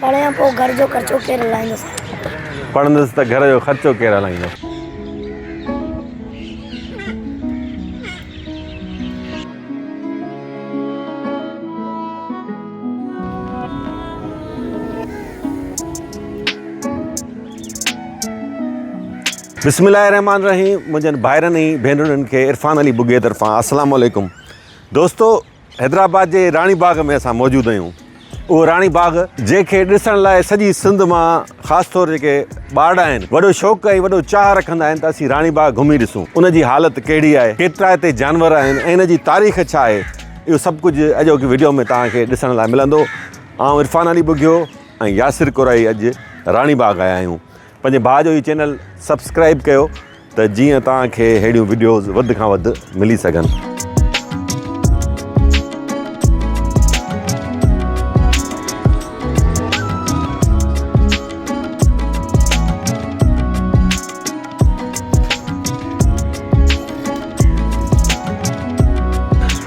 پڙهيان پوء گهر جو خرچو ڪير هلائيندس. پڙهندس ته گهر جو خرچو ڪير هلائيندس. بسم الله الرحمٰن الرحيم منهنجن ڀائرن ۽ ڀينرڙين کي عرفان علي ٻگهي طرفان السلام عليڪم دوستو حيدرآباد جي راڻي باغ ۾ اسان موجود آهيون اهو راڻي باغ جنهن کي ڏسڻ لاء سڄي سنڌ مان خاص طور جيڪي ٻارڙا آهن وڏو شوق ۽ وڏو چاهه رکندا آهن ته اسين راڻي باغ گهمي ڏسون ان جي حالت ڪهڙي آهي ڪيترا هتي جانور آهن ۽ ان جي تاريخ ڇا آهي اهو سڀ ڪجهه اڄوڪي وڊيو ۾ توهان کي ڏسڻ لاء ملندو آئون عرفان علي ٻگهيو ۽ ياسر ڪورائي اڄ راڻي باغ آيا آهيون پنهنجي ڀاء جو هي چينل سبسڪرائب ڪيو ته جيئن توهان کي ههڙيون وڊيوز وڌ کان وڌ ملي سگهن.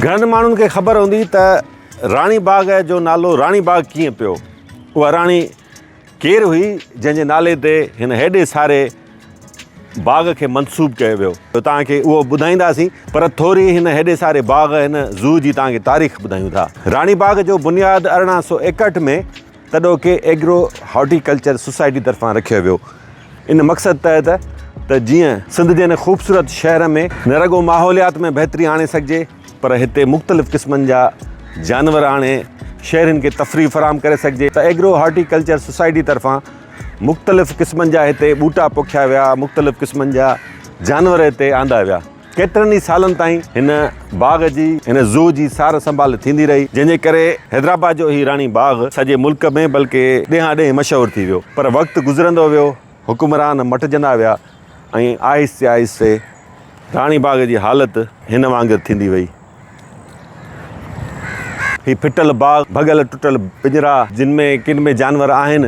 گهڻن ماڻهن کي خبر هوندي ته راڻي باغ جو نالو راڻي باغ ڪيئن پيو اها راڻي ڪير هئي جنهن جي نالي تي هن هيڏي ساري باغ کي منسوب ڪيو ويو ته توهان کي اهو ٻڌائينداسين پر ٿوري هن هيڏي ساري باغ هن زو جي توهان کي تاريخ ٻڌايون ٿا. راڻي باغ جو بنياد ارڙهن سؤ ايڪهٺ ۾ تڏهوڪي ايگرو هارٽي ڪلچر سوسائٽي طرفان رکيو ويو ان مقصد تحت ته جيئن سنڌ جي هن خوبصورت شهر ۾ نه رڳو ماحوليات ۾ بهتري آڻي سگهجي پر هتي مختلف قسمن جا جانور آڻي شهرين کي تفريح فراهم ڪري سگهجي ته ايگرو هارٽي ڪلچر سوسائٽي طرفان مختلف قسمن جا هتي ٻوٽا پوکيا ويا مختلف قسمن جا جانور هتي آندا ويا ڪيترن ئي سالن تائين هن باغ جي هن زو جي سار سنڀال ٿيندي رهي جنهن جي ڪري حيدرآباد جو هي راڻي باغ سڄي ملڪ ۾ بلڪه ڏيهان ڏيهه مشهور ٿي ويو پر وقت گذرندو ويو حڪمران مٽجندا ويا ۽ آهستي آهستي راڻي باغ جي حالت هن وانگر ٿيندي وئي. هي ڦٽل باغ، ڀڳل ٽٽل پڃرا، جن ۾ ڪن ۾ جانور آهن،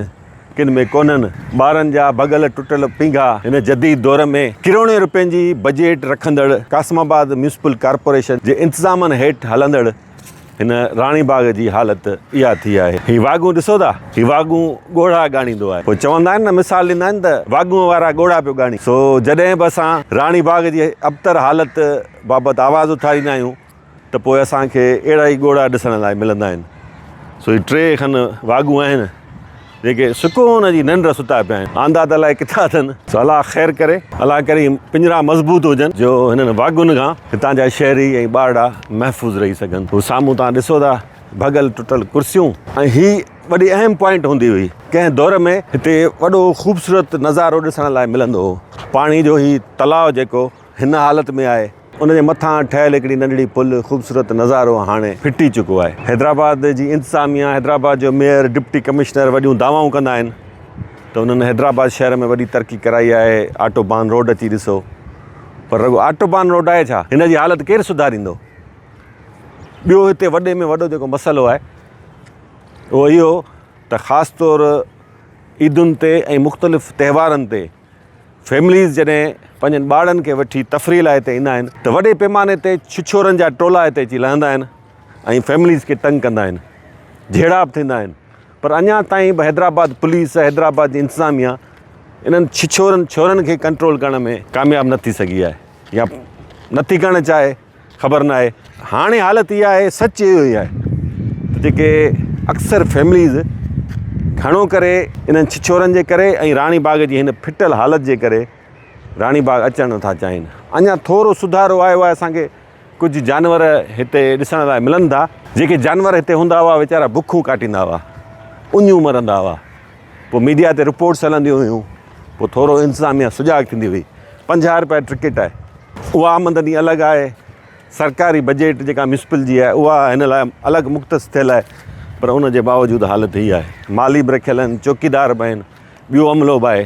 ڪن ۾ ڪونهن، ٻارن جا ڀڳل ٽٽل پينگها، هن جديد دور ۾ ڪروڙين روپين جي بجيٽ رکندڙ قاسم آباد ميونسپل ڪارپوريشن جي انتظامن هيٺ هلندڙ، هن راڻي باغ جي حالت اها ٿي آهي. هي واڳون ڏسو ٿا، هي واڳون ڳوڙها ڳاڻيندو آهي. پوء چوندا آهن نه، مثال ڏيندا آهن ته واڳون وارا ڳوڙها پيو ڳاڻي. سو جڏهن به اسان راڻي باغ جي ابتر حالت بابت آواز اٿاريندا آهيون ته پوء اسان کي اهڙا ئي ڳوڙها ڏسڻ لاء ملندا آهن. سو هي ٽي کن واڳون آهن. جيڪي سڪون جي ننڊ ستا پيا آهن، آندا ته الائي ڪٿان اٿن. سو الله خير ڪري. الله ڪريم پڃرا مضبوط هجن، جو هنن واڳن کان هتان جا شهري ۽ ٻارڙا محفوظ رهي سگهن. هو سامهون توهان ڏسو ٿا، ڀڳل ٽٽل ڪرسيون ۽ هي وڏي اهم پوائنٽ هوندي هئي. ڪنهن دور ۾ هتي وڏو خوبصورت نظارو ڏسڻ لاء ملندو هو. پاڻي جو هي تلاء جيڪو هن حالت ۾ آهي. ان جي مٿان ٺهيل هڪڙي ننڍڙي پل خوبصورت نظارو هاڻي ڦٽي چڪو آهي. حيدرآباد جي انتظاميا، حيدرآباد جو ميئر، ڊپٽي ڪمشنر وڏيون دعوائون ڪندا آهن ته انهن حيدرآباد شهر ۾ وڏي ترقي ڪرائي آهي، آٽو بان روڊ اچي ڏسو. پر رڳو آٽو بان روڊ آهي ڇا؟ هن جي حالت ڪير سڌاريندو؟ ٻيو هتي وڏي ۾ وڏو جيڪو مسئلو آهي اهو اهو ته خاص طور عيدن تي ۽ مختلف تهوارن تي فيمليز جڏهن پنهنجن ٻارڙن کي وٺي تفريح لاء هتي ايندا آهن ته وڏي پيماني تي ڇڇورن جا ٽولا هتي اچي لهندا آهن ۽ فيمليز کي تنگ ڪندا آهن جهيڙا به ٿيندا آهن پر اڃا تائين به حيدرآباد پوليس ۽ حيدرآباد جي انتظاميا انهن ڇڇورن ڇورن کي ڪنٽرول ڪرڻ ۾ ڪامياب نه ٿي سگهي آهي يا نه ٿي ڪرڻ چاهي خبر نه آهي هاڻي حالت اها آهي سچ اهو ئي آهي ته جيڪي اڪثر فيمليز گهڻو ڪري انهن ڇڇورن جي ڪري ۽ راڻي باغ جي هن ڦٽل حالت جي ڪري راڻي باغ اچڻ نٿا چاهين اڃا ٿورو سڌارو آيو آهي اسان کي ڪجهه جانور هتي ڏسڻ لاء ملن ٿا جيڪي جانور هتي هوندا هئا ويچارا بکون ڪاٽيندا هئا اڃون مرندا هئا پوء ميڊيا تي رپورٽس هلنديون هيون، پوء ٿورو انتظاميه سجاڳ ٿيندي هئي. پنجاهه رپيا ٽڪيٽ آهي، اها آمدني الڳ آهي، سرڪاري بجيٽ جيڪا ميونسپل جي آهي اها هن لاء الڳ مختص ٿيل آهي، پر ان جي باوجود حالت هي آهي. مالي به رکيل آهن، چوڪيدار به آهن، ٻيو عملو به آهي.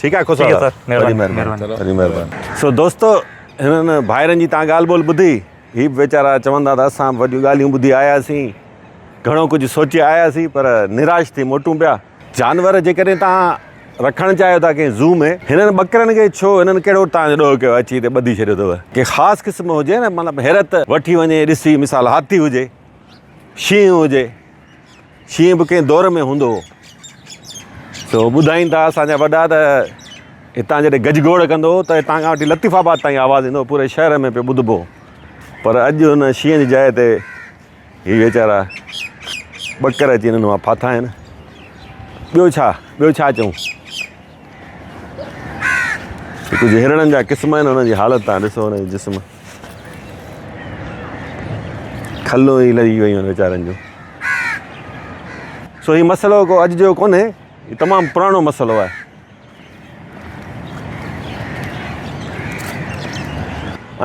ٺيڪ آهي خوسا صاحب وڏي مهرباني وڏي مهرباني سو دوستو هنن ڀائرن جي تان ڳالهه ٻولهه ٻڌي هي به ويچارا چوندا ته اسان به وڏيون ڳالهيون ٻڌي آياسين گهڻو ڪجهه سوچي آياسين پر نراش ٿي موٽون پيا جانور جيڪڏهن تان رکڻ چاهيو ٿا ڪنهن زو ۾ هنن ٻڪرن کي ڇو هنن ڪهڙو تان ڏوهه ڪيو اچي هتي ٻڌي ڇڏيو اٿو ڪي خاص قسم هجي نه مطلب حيرت وٺي وڃي ڏسي مثال هاٿي هجي شينهن هجي شينهن به ڪنهن دور ۾ هوندو هو سو ٻڌائين ٿا اسان جا وڏا ته هتان جڏهن گج گوڙ ڪندو هو ته هتان کان وٺي لطيف آباد تائين آواز ايندو پوري شهر ۾ پيو ٻڌبو پر اڄ هن شينهن جي جاء تي هي ويچارا ٻڪر اچي هنن مان ڦاٿا آهن ٻيو ڇا ٻيو ڇا چئون ڪجهه هرڻن جا قسم آهن انهن جي حالت تان ڏسو انهن جي جسم کلون ئي لهي ويون آهن ويچارن جون سو هي مسئلو ڪو اڄ جو ڪونهي هي تمام پراڻو مسئلو آهي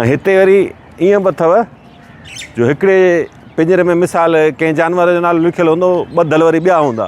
۽ هتي وري ائين به اٿو جو هڪڙي پنجري ۾ مثال ڪنهن جانور جو نالو لکيل هوندو ٻڌل وري ٻيا هوندا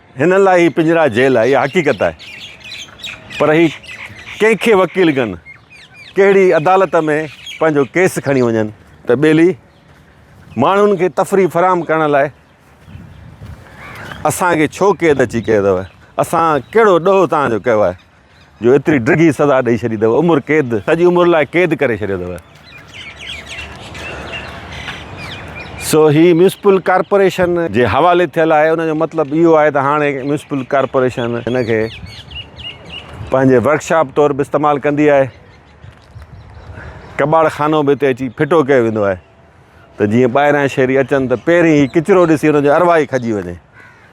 هنن لاء هي پڃرا جيل آهي اها حقيقت آهي پر هي ڪنهن کي وڪيل ڪن ڪهڙي عدالت ۾ پنهنجو ڪيس کڻي وڃن ته ٻيلي ماڻهن کي تفريح فراهم ڪرڻ لاء اسان کي ڇو قيد اچي ڪيو اٿو اسان ڪهڙو ڏوهه تهان جو ڪيو آهي جو ايتري ڊگهي سزا ڏئي ڇڏي اٿو عمر قيد سڄي عمر لاء قيد ڪري ڇڏيو اٿو سو هي ميونسپل ڪارپوريشن جي حوالي ٿيل آهي ان جو مطلب اهو آهي ته هاڻي ميونسپل ڪارپوريشن هن کي پنهنجي ورڪشاپ طور به استعمال ڪندي آهي ڪٻاڙ خانو به هتي اچي ڦٽو ڪيو ويندو آهي ته جيئن ٻاهران شهري اچن ته پهرين هي ڪچرو ڏسي ان جو ارواح ئي کڄي وڃي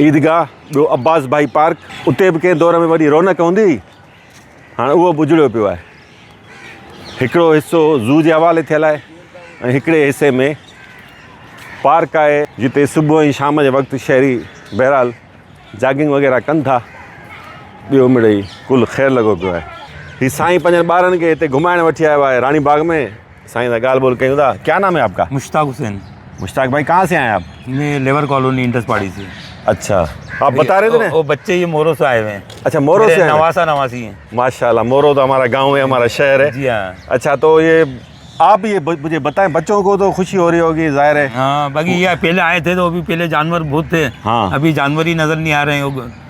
عيدگاهه، ٻيو عباس ڀائي پارڪ، اتي به ڪنهن دور ۾ وڏي رونق هوندي هئي، هاڻ اهو به اجڙيو پيو آهي. هڪڙو حصو زو جي حوالي ٿيل آهي ۽ هڪڙي حصي ۾ پارڪ آهي، جتي صبح ۽ شام جي وقت شهري بهرحال جاگنگ وغيره ڪن ٿا، ٻيو مڙئي ڪل خير لڳو پيو آهي. هي سائين پنهنجن ٻارن کي هتي گهمائڻ وٺي آيو آهي، راڻي باغ ۾ سائين سان ڳالهه ٻولهه ڪيون ٿا ڪيا نام هي آپ ڪا؟ مشتاق حسين مشتاق ڀائي ڪها سي آئي آپ؟ مين ليبر ڪالوني انڊس پاڙي سي اڇا آپ بتا رهي ٿي نه او بچي هي مورو سي آئي هئي اڇا مورو سي نواسا نواسي هي ماشاء الله مورو تو همارا گاؤن هي همارا شهر هي جي ها اڇا تو هي آپ هي مجھي بتائي بچو ڪو تو خوشي هو رهي هو گي ظاهر هي ها باقي هي پهلي آئي ٿي تو ابي پهلي جانور بهت ٿي ها ابي جانور هي نظر نهي آ رهي هو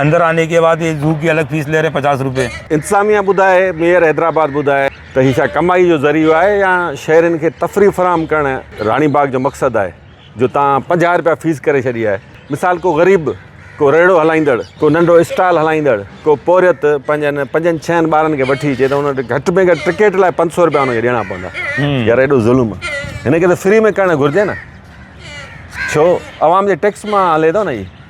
اندر آني ڪي بعد يي زو ڪي الگ فيس لي رھي ھي پچاس روپي. انتظاميا ٻڌائي ميئر حيدرآباد ٻڌائي ته هي ڇا ڪمائي جو ذريعو آهي يا شهرين کي تفريح فراهم ڪرڻ راڻي باغ جو مقصد آهي جو تان پنجاهه رپيا فيس ڪري ڇڏي آهي مثال ڪو غريب ڪو ريڙهو هلائيندڙ ڪو ننڍو اسٽال هلائيندڙ ڪو پورهيت پنهنجن پنجن ڇهن ٻارن کي وٺي اچي ته ان وٽ گهٽ ۾ گهٽ ٽڪيٽ لاء پنج سو رپيا ان کي ڏيڻا پوندا يار ايڏو ظلم هن کي ته فري ۾ ڪرڻ گهرجي نه ڇو عوام جي ٽيڪس مان هلي ٿو نه هي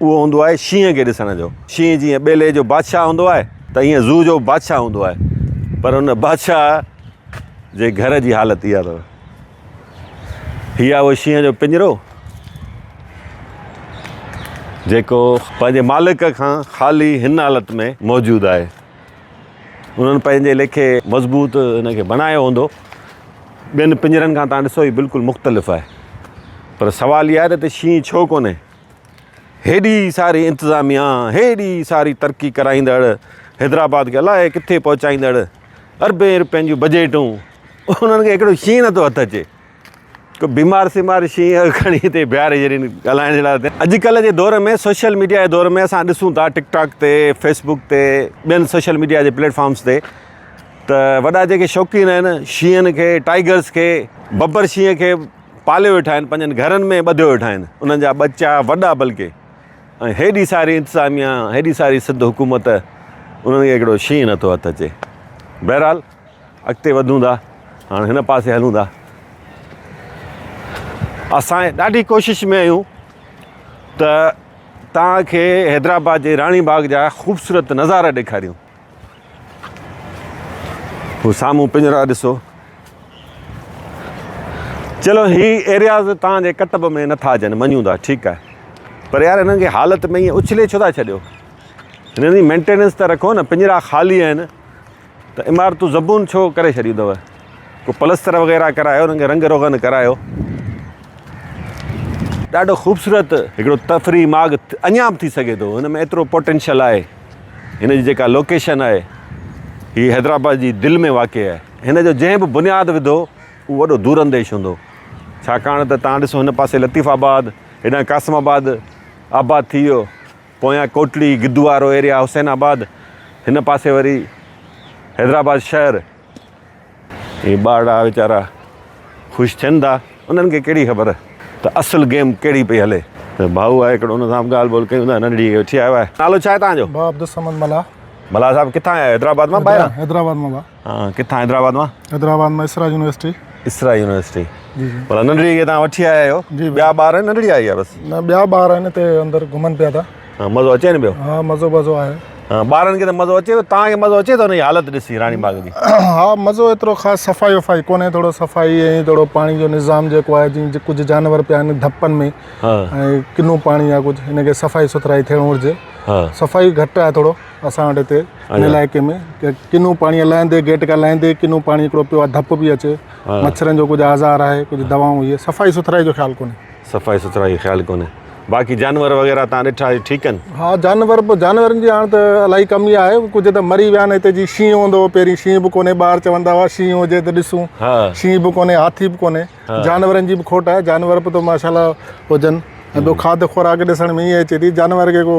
اهو هوندو آهي شينهن کي ڏسڻ جو. شينهن جيئن ٻيلي جو بادشاهه هوندو آهي ته ايئن زو جو به بادشاهه هوندو آهي پر ان بادشاهه جي گهر جي حالت اها اٿس. هي آهي اهو شينهن جو پڃرو جيڪو پنهنجي مالڪ کان خالي هن حالت ۾ موجود آهي. انهن پنهنجي ليکي مضبوط ان کي بڻايو هوندو. ٻين پڃرن کان توهان ڏسو هي بلڪل مختلف آهي پر سوال اهو آهي ته هتي شينهن ڇو ڪونهي؟ هيڏي ساري انتظاميا، هيڏي ساري ترقي ڪرائيندڙ، حيدرآباد کي الائي ڪٿي پهچائيندڙ اربين روپين جون بجيٽون، انهن کي هڪڙو شينهن نه ٿو هٿ اچي. ڪو بيمار سيمار شينهن کڻي هتي بيهاري ڇڏين ڳالهائڻ جي لاء ته. اڄڪلهه جي دور ۾ سوشل ميڊيا جي دور ۾ اسان ڏسون ٿا ٽڪ ٽاڪ تي، فيس بوڪ تي، ٻين سوشل ميڊيا جي پليٽ فارمز تي ته وڏا جيڪي شوقين آهن شينهن کي، ٽائيگرز کي، ببر شينهن کي، پاليو ويٺا آهن، پنهنجن گهرن ۾ ٻڌيو ويٺا آهن، انهن جا ٻچا وڏا بلڪ ۽ هيڏي ساري انتظاميا، هيڏي ساري سنڌ حڪومت انهن کي هڪڙو شينهن نٿو هٿ اچي. بهرحال اڳتي وڌون ٿا، هاڻ هن پاسي هلون ٿا. اسان ڏاڍي ڪوشش ۾ آهيون ته توهان کي حيدرآباد جي راڻي باغ جا خوبصورت نظارا ڏيکاريون. هو سامهون پڃرا ڏسو. چلو هي ايرياز تان جي ڪٽب ۾ نٿا اچن مڃون ٿا ٺيڪ آهي پر يار هنن کي حالت ۾ ائين اڇلي ڇو ٿا ڇڏيو هنن جي مينٽيننس ته رکو نه پنجرا خالي آهن ته عمارتون زبون ڇو ڪري ڇڏيون اٿو ڪو پلستر وغيرها ڪرايو هنن کي رنگ روغن ڪرايو ڏاڍو خوبصورت هڪڙو تفريح ماڳ اڃا به ٿي سگهي ٿو هن ۾ ايترو پوٽينشل آهي هن جي جيڪا لوڪيشن آهي هي حيدرآباد جي دل ۾ واقع آهي. هن جو جنهن به بنياد وڌو اهو وڏو دور انديش هوندو. ڇاڪاڻ ته توهان ڏسو هن پاسي لطيف آباد، هيڏانهن قاسم آباد آباد ٿي ويو، پويان ڪوٽڙي، گدوارو ايريا، حسين آباد، هن پاسي وري حيدرآباد شهر. هي ٻارڙا ويچارا خوش ٿين ٿا انهن کي ڪهڙي خبر ته اصل گيم ڪهڙي پئي هلي. ڀائو آء هڪڙو ان سان به ڳالهه ٻولهه ڪيون ٿا ننڍڙي کي وٺي آيو آهي نالو ڇا آهي توهان جو. ڀاء عبدالصمد ملاح. ملاح صاحب ڪٿان آيا آهيو حيدرآباد مان ٻاهران. حيدرآباد مان ڀاء. ها ڪٿان حيدرآباد مان. حيدرآباد مان اسرا يونيورسٽي. اسرا يونيورسٽي مطلب ننڍڙي کي توهان وٺي آيا آهيو ٻيا ٻار آهن ننڍڙي آئي آهي بس. نه ٻيا ٻار آهن هتي اندر گهمن پيا ٿا. ها مزو اچي ني پيو ها مزو مزو آهي ها ٻارن کي ته مزو اچي پيو تان کي مزو اچي ٿو انهي حالت ڏسي راڻي باغ جي ها مزو ايترو خاص صفائي وفائي ڪونهي ٿورو صفائي ۽ ٿورو پاڻي جو نظام جيڪو آهي جي ڪجهه جانور پيا آهن ڌپن ۾ ها ۽ ڪنو پاڻي آهي ڪجهه هن کي صفائي سٿرائي ٿيڻ گهرجي ها صفائي گهٽ آهي ٿورو اسان وٽ هتي ان علائقي ۾ ڪنو پاڻي لهندي گيٽ کان لهندي ڪنو پاڻي هڪڙو پيو آهي ڌپ پئي اچي مڇرن جو ڪجهه آزار آهي ڪجهه دوائون هي صفائي سٿرائي جو خيال ڪونهي صفائي سٿرائي جو خيال ڪونهي باقي جانور وغيره تان ڏٺا اهي ٺيڪ آهن. ها جانور به جانورن جي هاڻ ته الائي ڪمي آهي ڪجهه ته مري ويا آهن هتي جي شينهن هوندو هو پهرين شينهن به ڪونهي ٻار چوندا هئا شينهن هجي ته ڏسون شينهن به ڪونهي هاٿي به ڪونهي جانورن جي به کوٽ آهي جانور به ته ماشاء الله هجن ۽ ٻيو کاڌ خوراڪ ڏسڻ ۾ ائين اچي ٿي جانور کي ڪو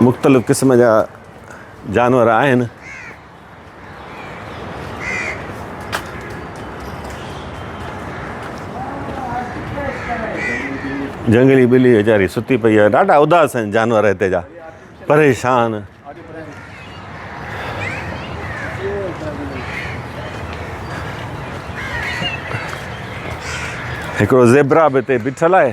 مختلف قسم جا جانور آهن. جهنگلي ٻلي ويچاري ستي پئي آهي ڏاڍا اداس آهن جانور هتي جا پريشان هڪڙو زيبرا به هتي بيٺل آهي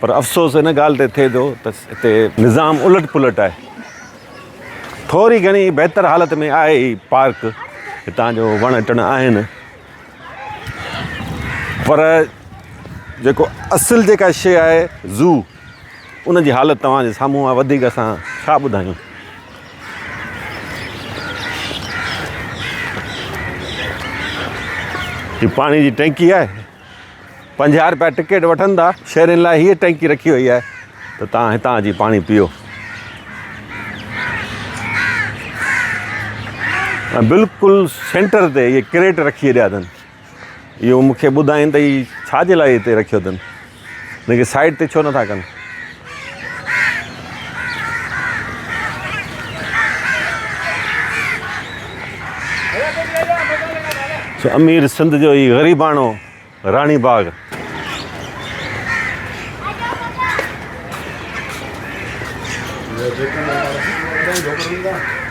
پر افسوس ان ڳالهه تي ٿئي ٿو ته هتي نظام الٽ پلٽ آهي. ٿوري گهڻي بهتر حالت ۾ آهي هي پارڪ، هتان جو وڻ ٽڻ آهن، پر جيڪو اصل جيڪا شيء آهي زو، ان جي حالت توهان جي سامهون آهي، وڌيڪ اسان ڇا ٻڌايون. هي پاڻي جي ٽينڪي آهي. پنجاهه رپيا ٽڪيٽ وٺن ٿا شهرين لاء هيء ٽينڪي رکي وئي آهي ته توهان هتان اچي پاڻي پيو ۽ بلڪل سينٽر تي هيء ڪريٽ رکي ڇڏيا اٿن اهو مونکي ٻڌائين ته هي ڇا جي لاء هتي رکيو اٿن هن کي سائيڊ تي ڇو نٿا ڪن امير سنڌ جو هي غريباڻو راڻي باغ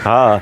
ها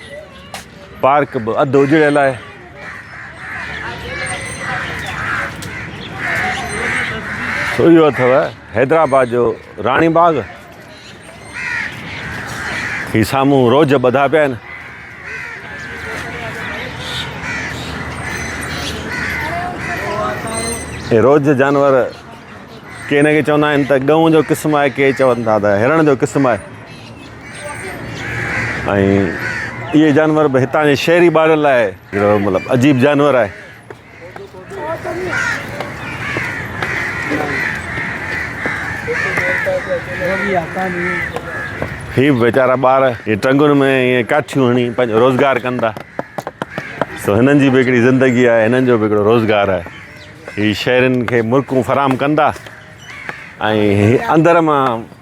پارڪ به اڌ اجڙيل آهي. سو اهو اٿو حيدرآباد جو راڻي باغ. هي سامهون روج ٻڌا پيا آهن. روج جانور ڪي نه ڪي چوندا آهن ته ڳئون جو قسم آهي ڪي چون ٿا ته هرڻ جو قسم آهي ۽ اهي جانور به هتان جي شهري ٻارن لاء هڪڙو مطلب عجيب جانور آهي هي به ويچارا ٻار هي ٽنگن ۾ ائين ڪاٺيون هڻي پنهنجو روزگار ڪن ٿا سو هنن جي به هڪڙي زندگي آهي هنن جو به هڪڙو روزگار آهي هي شهرين کي مرڪون فراهم ڪن ٿا ۽ اندر مان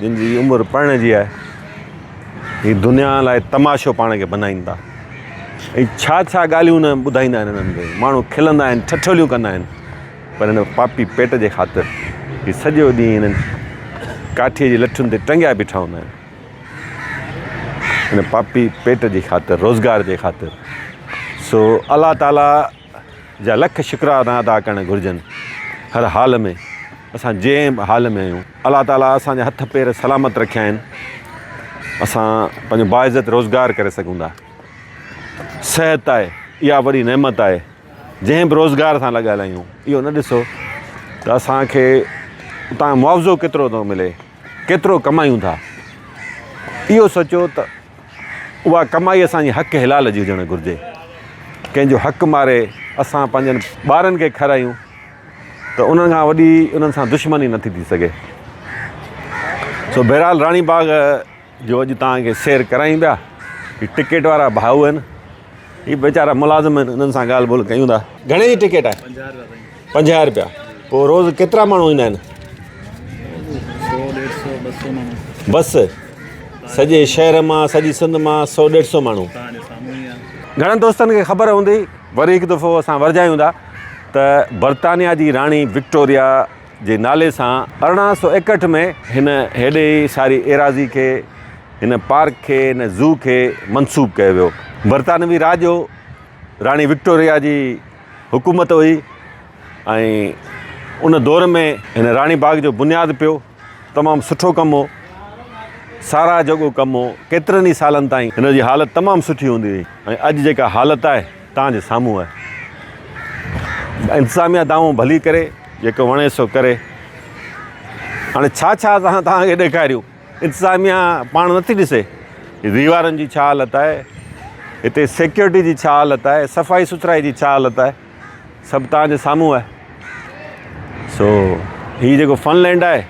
جن جي عمر پرڻي جي آهي هي دنيا لاء تماشو پاڻ کي بنائين ٿا ۽ ڇا ڇا ڳالهيون نه ٻڌائيندا آهن انهن کي ماڻهو کلندا آهن ٺٺوليون ڪندا آهن پر هن پاپي پيٽ جي خاطر هي سڄو ڏينهن هنن ڪاٺيء جي لٺن تي ٽنگيا بيٺا هوندا آهن هن پاپي پيٽ جي خاطر روزگار جي خاطر سو الله تعاليٰ جا لک شڪرانا ادا ڪرڻ گهرجن هر حال ۾ اسان جنهن به حال ۾ آهيون الله تعالي اسان جا هٿ پير سلامت رکيا آهن اسان پنهنجو باعزت روزگار ڪري سگهون ٿا صحت آهي اها وڏي نعمت آهي جنهن به روزگار سان لڳل آهيون اهو نه ڏسو ته اسانکي اتان معاوضو ڪيترو ٿو ملي ڪيترو ڪمايون ٿا، اهو سوچيو ته اها ڪمائي اسان جي حق حلال جي هجڻ گهرجي، ڪنهن جو حق ماري اسان پنهنجن ٻارن کي کارايون ته انهن کان وڏي انهن سان دشمني نٿي ٿي سگهي. سو بهرحال راڻي باغ جو اڄ توهان کي سير ڪرايون پيا هي ٽڪيٽ وارا ڀائو آهن هي ويچارا ملازم آهن انهن سان ڳالهه ٻولهه ڪيون ٿا گهڻي جي ٽڪيٽ آهي پنجاهه رپيا پوء روز ڪيترا ماڻهو ايندا آهن بس سڄي شهر مان سڄي سنڌ مان سو ڏيڍ سو ماڻهو گهڻن دوستن کي خبر هوندي وري هڪ دفعو اسان ورجايون ٿا ته برطانيا جي راڻي وڪٽوريا جي نالي سان ارڙهن سؤ ايڪهٺ ۾ هن هيڏي ئي ساري ايراضي کي، هن پارڪ کي، هن زو کي منسوب ڪيو ويو. برطانوي راڄ هو، راڻي وڪٽوريا جي حڪومت هئي ۽ ان دور ۾ هن راڻي باغ جو بنياد پيو. تمام سٺو ڪم هو، ساراهه جوڳو ڪم هو. ڪيترن ئي سالن تائين هن جي حالت تمام سٺي هوندي هئي ۽ اڄ جيڪا حالت آهي، توهان جي سامهون آهي انتظاميا دانهون ڀلي ڪري جيڪو وڻي سو ڪري هاڻي ڇا ڇا اسان توهان کي ڏيکاريون انتظاميا پاڻ نٿي ڏسي ديوارن جي ڇا حالت آهي هتي سيڪيورٽي جي ڇا حالت آهي صفائي سٿرائي جي ڇا حالت آهي سڀ توهان جي سامهون آهي سو هي جيڪو فن لينڊ آهي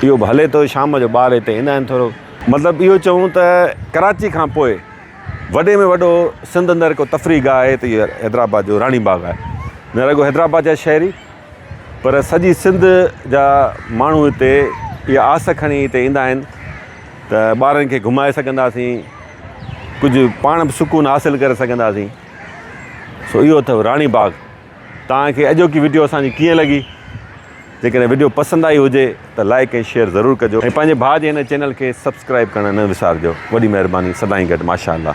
اهو به هلي ٿو شام جو ٻار هتي ايندا آهن ٿورو مطلب اهو چئون ته ڪراچي کان پوء وڏي ۾ وڏو سنڌ اندر ڪو تفريح گاهه آهي ته اهو حيدرآباد جو راڻي باغ آهي. نه رڳو حيدرآباد جا شهري پر سڄي سنڌ جا ماڻهو هتي اها آس کڻي هتي ايندا آهن ته ٻارن کي گهمائي سگهنداسين، ڪجهه پاڻ به سڪون حاصل ڪري سگهنداسين. سو اهو اٿئو راڻي باغ. توهان کي اڄوڪي وڊيو اسان جي ڪيئن لڳي جيڪڏهن وڊيو پسند آئي هجي ته لائيڪ ۽ شيئر ضرور ڪجو ۽ پنهنجي ڀاء جي هن چينل کي سبسڪرائيب ڪرڻ نه وسارجو وڏي مهرباني سدائين گڏ ماشاءالله.